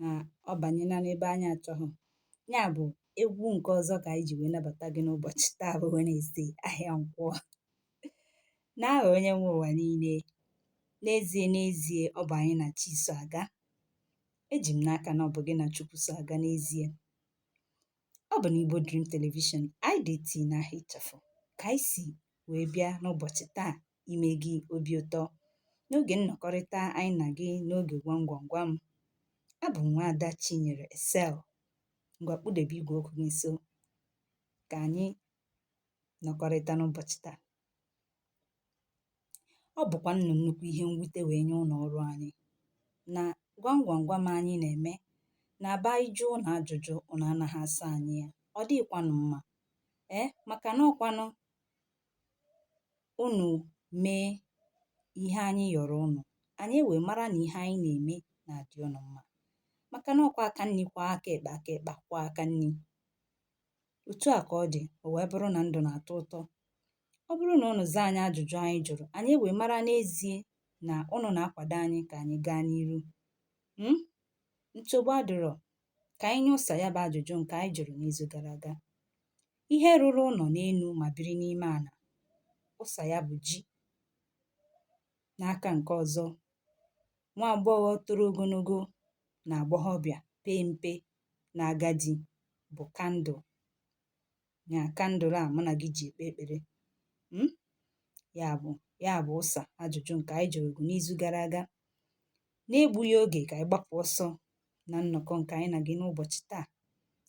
na ọ banyela n'ebe anyị achọghị ya bụ egwu nke ọzọ ka anyị ji wee nabata gị n'ụbọchị taa bụ wednesday ahịa nkwọ n'aha onye nwe ụwa niile n'ezie n'ezie ọ bụ anyị na chi so aga eji m n'aka na ọ bụ gị na chukwu so aga n'ezie ọ bụ n'igbo dream television IDT n'aha ịchafụ ka anyị si wee bịa n'ụbọchị taa ime gị obi ụtọ n'oge nnọkọrịta anyị na gị n'oge gwam gwam gwam abụ m nwaada Chinyere Excel ngwa kpụdebe igwe okwu gị nso ka anyị nọkọrịta n'ụbọchị taa ọ bụkwa nnụ nnukwu ihe mwute wee nye ụlọ ọrụ anyị na gwam gwam gwam anyị na-eme na ọ bụ anyị jụọ ụnụ ajụjụ ụnụ anaghị asa anyị ya ọ dịghịkwanụ mma ee maka na ọkwanụ unù mee ihe anyị yọ̀rọ unù ànyị e wèe mara nà ihe anyị nà-ème nà-àdị unù mmȧ màkà nà ọkwa aka nni kwọọ aka ekpe aka ekpe akwọọ aka nni òtu à kà ọ dì ò wèe bụrụ nà ndụ̀ nà-àtọ ụtọ ọ bụrụ nà unù zaa anyị ajụ̀jụ anyị jụ̀rụ̀ ànyị e wèe mara n'ezie nà unù nà-akwàdo anyị kà ànyị gaa n'iru um nsogbu adịrọ kà anyị nye ụsa ya bụ ajụ̀jụ ǹkè anyị jụ̀rụ̀ n'izu gara aga ihe rụrụ ụlọ n'elu ma biri n'ime ala ụsa ya bụ ji n'aka nke ọzọ nwa agbọghọ toro ogologo n'agbọghọbịa pee mpe n'agadi bụ kandụl ya kandụl a mụ na gị ji ekpe ekpere hmm? ya bụ ya bụ ụsa ajụjụ nke anyị jụrụ gị n'izu gara aga n'egbughị oge ka anyị gbapụ ọsọ na nnọkọ nke anyị na gị n'ụbọchị taa.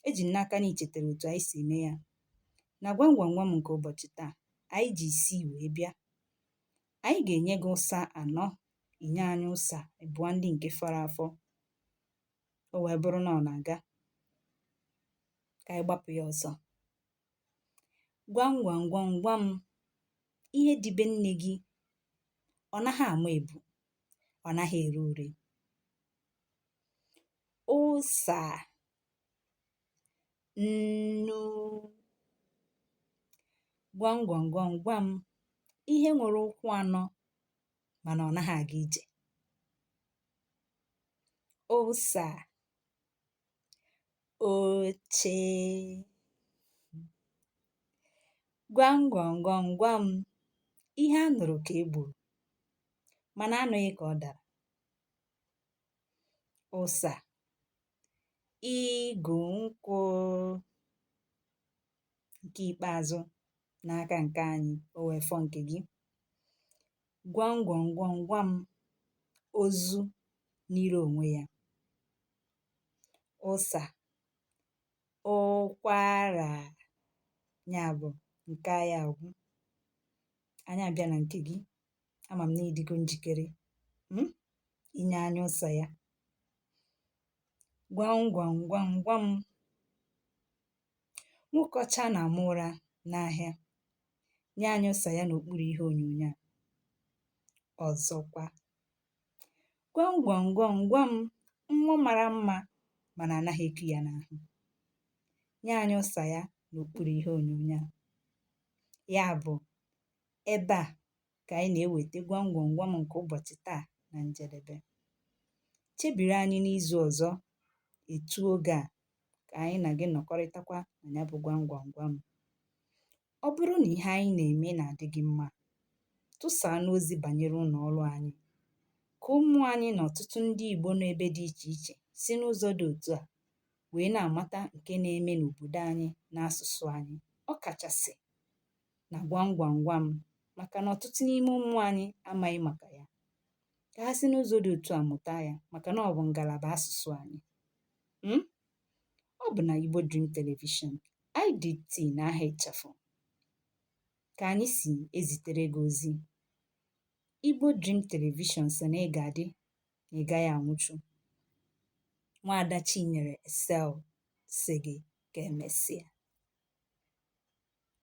Eji m n'aka na i chetara otu anyị si eme ya. Na gwam gwam gwam nke ụbọchị taa, anyị ji isii wee bịa. Anyị ga-enye gị ụsa anọ, i nye anyị ụsa abụọ ndị nke fọrọ afọ. O wee bụrụ na ọ na-aga. Ka anyị gbapụ ya ọsọ. Gwam gwam gwam gwam ihe dị be nne gị ọ naghị ama ebu, ọ naghị ere ure. ụsa nnu gwam gwam gwam gwam ihe nwere ụkwụ anọ mana ọ naghị aga ije ụsa oche gwam gwam gwam gwam ihe a nụrụ ka e gburu mana anụghị ka ọ dara ụsà igù nkwụ ǹke ikpeazụ n'aka ǹke anyị o wèe fọ ǹkè gị gwam gwam gwam gwam ozu niri ònwe ya ụsà ụkwarà ya bụ̀ ǹke anyị àgwụ anyị àbịa nà ǹkè gị ama m na ị dịgo njikere hmm, inye anyị ụsa ya gwam gwam gwam gwam nwoke ọcha na-ama ụra n'ahịa nye anyị ụsa ya n'okpuru ihe onyonyo a ọzọkwa gwam gwam gwam gwam nwa mara mma mana anaghị eku ya n'ahụ nye anyị ụsa ya n'okpuru ihe onyonyo a ya bụ ebe a ka anyị na-eweta gwam gwam gwam nke ụbọchị taa na njedebe chebiri anyị n'izu ọzọ etu oge a ka anyị na gị nọkọrịtakwa na ya bụ gwam gwam gwam ọ bụrụ na ihe anyị na-eme na-adị gị mma tụsaanụ ozi banyere ụlọ ọrụ anyị ka ụmụ anyị na ọtụtụ ndị Igbo nọ ebe dị iche iche si n'ụzọ dị otu a wee na-amata nke na-eme n'obodo anyị na asụsụ anyị ọkachasị na gwam gwam gwam maka na ọtụtụ n'ime ụmụ anyị amaghị maka ya ka ha si n'ụzọ dị otu a mụta ya maka na ọ bụ ngalaba asụsụ anyị mm? ọ bụ na Igbo Dream Television IDT n'aha ịchafụ ka anyị si ezitere gị ozi Igbo Dream Television sị na ị ga-adị na ị gaghị anwụchu nwaada Chinyere Excel sị gị ka emesịa